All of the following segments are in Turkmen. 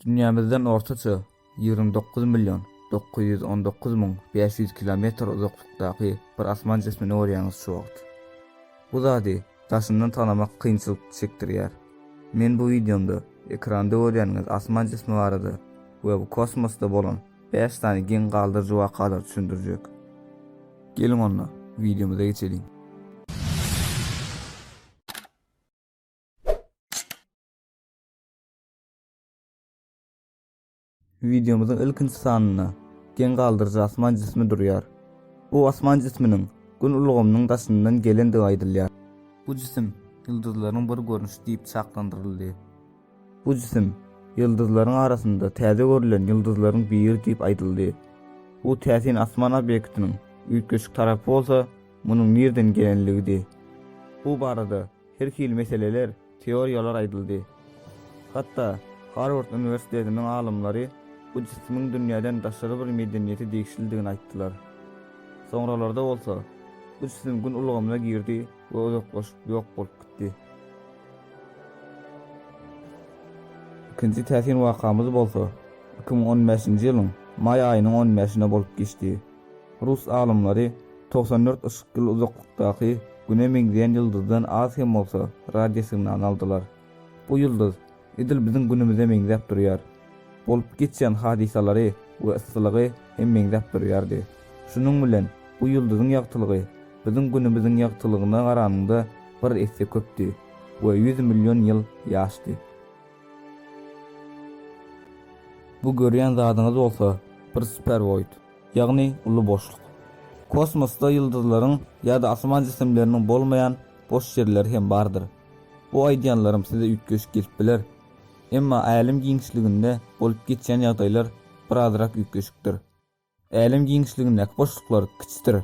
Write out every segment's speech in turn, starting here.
Dünýämizden ortaça ýigrimi dokuz million dokuz ýüz on dokuz müň bäş ýüz kilometr uzaklykdaky bir asman jismini görýäňiz şu wagt. Bu zady daşyndan tanamak kynçylyk çekdirýär. Men bu wideomda ekranda görýäniňiz asman jismi barada we bu kosmosda bolan bäş sany geň galdyryjy wakalary düşündirjek. Geliň onda, wideomyza geçeliň. Wideomyzyň ilkinji sanynda geň galdyryjy asman jismi durýar. Bu asman jisminiň Gün ulgamynyň daşyndan gelendigi aýdylýar. Bu jisim ýyldyzlaryň bir görnüşi diýip çaklandyryldy. Bu jisim ýyldyzlaryň arasynda täze görülen ýyldyzlaryň biri diýip aýdyldy. Bu täsin asman obýektiniň üýtgeşik tarapy bolsa munuň nirden gelenligidi. Bu barada Her hili meseleler, teoriýalar aýdyldy. Hatda Harward uniwersitetiniň alymlary bu jisimiň dünýäden daşary bir medeniýete degişlidigini aýtdylar. Soňralarda bolsa, bu jisim Gün ulgamyna girdi we uzaklaşyp ýok bolup gitdi. Ikinji täsin wakamyz bolsa, iki müň on bäşinji ýylyň maý aýynyň on bäşinde bolup geçdi. Rus alymlary togsan dört yşyk ýyl uzaklykdaky Güne meňzeýän ýyldyzdan az hem bolsa radiosignal aldylar. Bu ýyldyz edil biziň Günümize meňzäp durýar. Bolup geçýän hadysalary we yssylygy hem meňzäp durýardy. Şunuň bilen bu ýyldyzyň ýagtylygy biziň Günümiziň ýagtylygyna garanyňda bir esse köpdi we ýüz million ýyl ýaşdy. Bu görýän zadyňyz bolsa bir superwoid, ýagny uly boşluk. Kosmosda ýyldyzlaryň ýa-da asman jisimleriniň bolmaýan boş ýerleri hem bardyr. Bu aýdýanlarym size üýtgeşik gelip biler, emma älem giňişliginde bolup geçýän ýagdaýlar birazrak üýtgeşikdir. Älem giňişligindäki boşluklar kiçidir,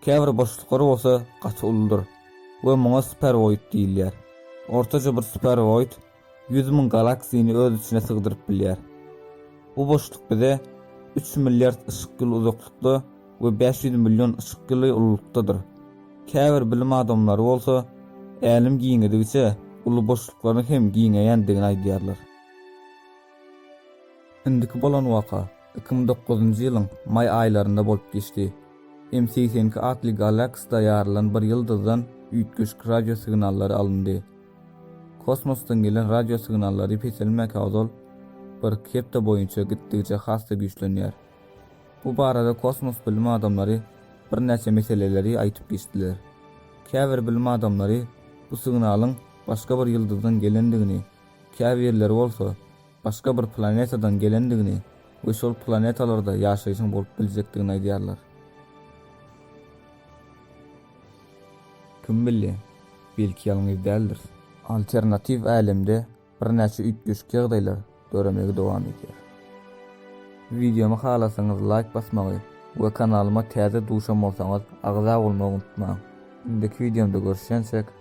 käbir boşluklar bolsa gaty uludyr we muňa superoid diýilýär. Ortaça bir superoid ýüz müň galaksini öz içine sygdyryp bilýär. Bu boşluk bize üç milliard yşyk ýyly uzaklykda we bäş ýüz million yşyk ýyly ululykdadyr. Käbir bilim adamlary bolsa Älem giňedigiçe uly boşluklaryň hem giňeýändigini aýdýarlar. Indiki bolan waka iki müň dokuzynjy ýylyň maý aýlarynda bolup geçdi. M segsen iki atly galaksda ýarylan bir ýyldyzdan üýtgeşik radio signallary alyndy. Kosmosdan gelen radio signallary peselmäkä ozal bir kepde boýunça gitdigiçe has-da güýçlenýär. Bu barada kosmos bilim adamlary birnäçe meseleleri aýtyp geçdiler. Käbir bilim adamlary bu signalyň başga bir ýyldyzdan gelendigini, käbirleri bolsa başga bir planetadan gelendigini we şol planetalarda ýaşaýşyň bolup biljekdigini aýdýarlar. Kim bilýär, belki ýalňyz däldiris. Alternatiw älemde birnäçe üýtgeşik ýagdaýlar döremegi dowam edýär. Wideomy halasaňyz laýk basmagy we kanalyma täze duşan bolsaňyz agza bolmagy unutmaň. Indiki wideomda görüşýänçäk.